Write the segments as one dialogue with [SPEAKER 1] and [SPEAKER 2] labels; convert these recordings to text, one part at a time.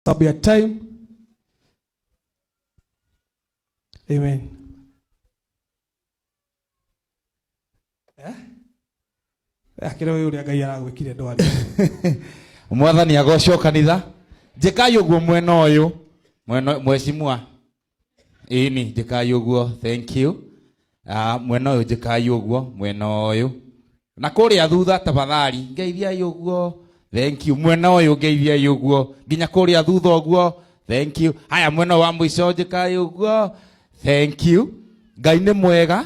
[SPEAKER 1] sababu ya time. Amen. Eh? Eh, kĩrĩa ũyũ ũrĩa Ngai aragwĩkire ndwari. mwathani agocwo kanitha njĩkai ũguo mwena ũyũ mwena mwecimua ĩni njĩkai ũguo thank you uh, mwena ũyũ njĩkai ũguo mwena ũyũ na kũrĩa thutha tafadhali ngeithiai ũguo thank you mwena ũyũ ngeithiai ũguo nginya kũrĩa thutha ũguo thank you haya mwena wa mũico njĩkai ũguo thank you ngai nĩ mwega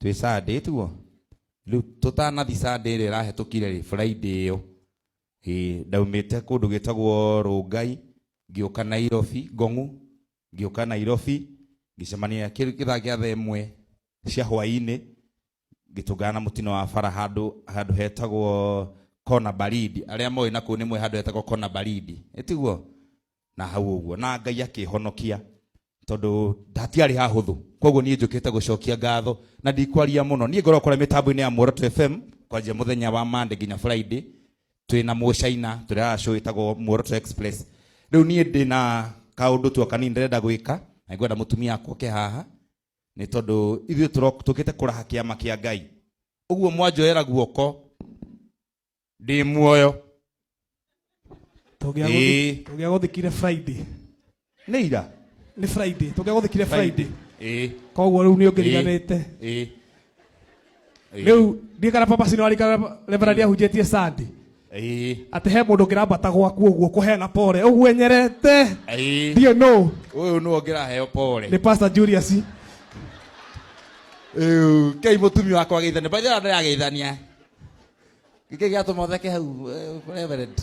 [SPEAKER 1] twĩ Sunday tiguo rĩu tũtanathi Sunday ĩrĩa ĩrahĩtũkire rĩ Friday ĩyo ĩ ndaumĩte kũndũ gĩtagwo Rũngai ngĩũka Nairobi Ngong'u ngĩũka Nairobi ngĩcemania kĩrĩ kĩthaa gĩa thaa ĩmwe cia hwaĩ-inĩ ngĩtũngana na mũtino wa bara handũ handũ hetagwo kona baridi arĩa moĩ na kũu nĩ moĩ handũ hetagwo kona baridi ĩtiguo na hau ũguo na ngai akĩhonokia tondũ ndatiarĩ hahũthũ koguo niĩ njũkĩte gũcokia ngatho na ndikwaria mũno niĩ ngorwo kũrĩa mĩtambo-inĩ ya muoroto fm kwanjia mũthenya wa mande nginya friday twĩ na mũcaina tũrĩa show ĩtagwo muoroto express rĩu niĩ ndĩ na kaũndũ tu kanini ndĩrenda gwĩka na ngwenda mũtumia akwa oke haha nĩ tondũ ithuĩ tũro- tũkĩte kũraha kĩama kĩa ngai ũguo mwanjoera guoko ndĩ muoyo Ĩĩ. tũgĩa gũthikire friday nĩ ira nĩ friday tũgĩa gũthikire friday ĩĩ koguo rĩu nĩ ũngĩriganĩte ĩĩ rĩu ndiĩ kana papa cino arikana reverend ahunjĩtie sandi ĩĩ atĩ he mũndũ ũngĩrambata gwaku ũguo kũheana pore ũguo enyerete ĩĩ ndiĩ no ũyũ nĩ ũngĩraheo pore nĩ pastor julius Ĩu, kei mũtumia wakwa geithania baithana ndĩrageithania gä gä atå motheke hau eh, reverend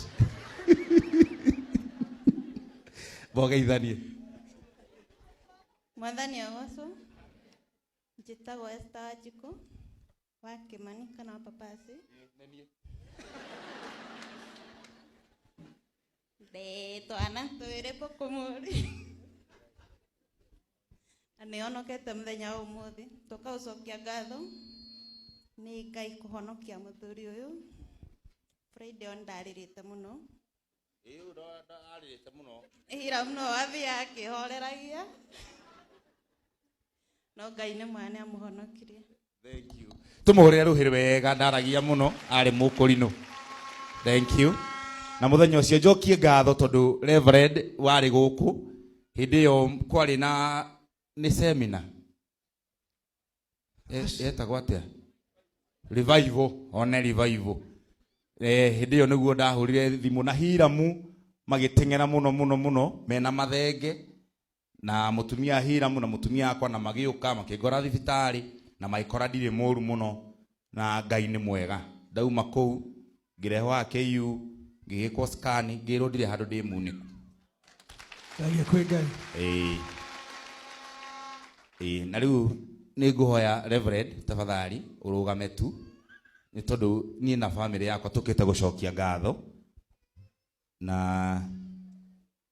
[SPEAKER 1] mogeithanie mwathani agocwo njĩtagwo esta wanjikũ wa kĩmani kana wa papasi De twana twere bokomori. Na nĩ onokete mũthenya wa ũmũthĩ tũkaũcokia ngatho nĩ ngai kũhonokia mũthuri ũyũ friday on ndarĩrĩte mũno Ĩĩ ũyũ ndo- ndo- arĩrĩte mũno ira mũno wathia akĩhoreragia no ngai nĩ mwana amũhonokirie Thank you. Tumuhurire ruhiri wega ndaragia muno ari mukurinu. Thank you. Na muthenya ucio njokie ngatho tondu Reverend wari guku hindi iyo kwari na ni seminar. Eh, yetagwo atia? Revival, one revival. Eh, hindi iyo niguo ndahurire thimu na hiramu magiteng'era muno muno muno mena mathenge Na mũtumia Hiramu na mũtumia akwa na magĩũka makĩngora thibitarĩ na magĩkora ndirĩ mũru mũno na Ngai nĩ mwega. Ndauma kũu ngĩrehwo haha KU ngĩgĩkwo scan ngĩrwo ndirĩ handũ ndĩ munĩku. Thengia kwĩ Ngai. Ĩĩ. Ĩĩ na rĩu nĩ ngũhoya Reverend tafadhali ũrũgame tu nĩ tondũ niĩ na family yakwa tũkĩte gũcokia ngatho na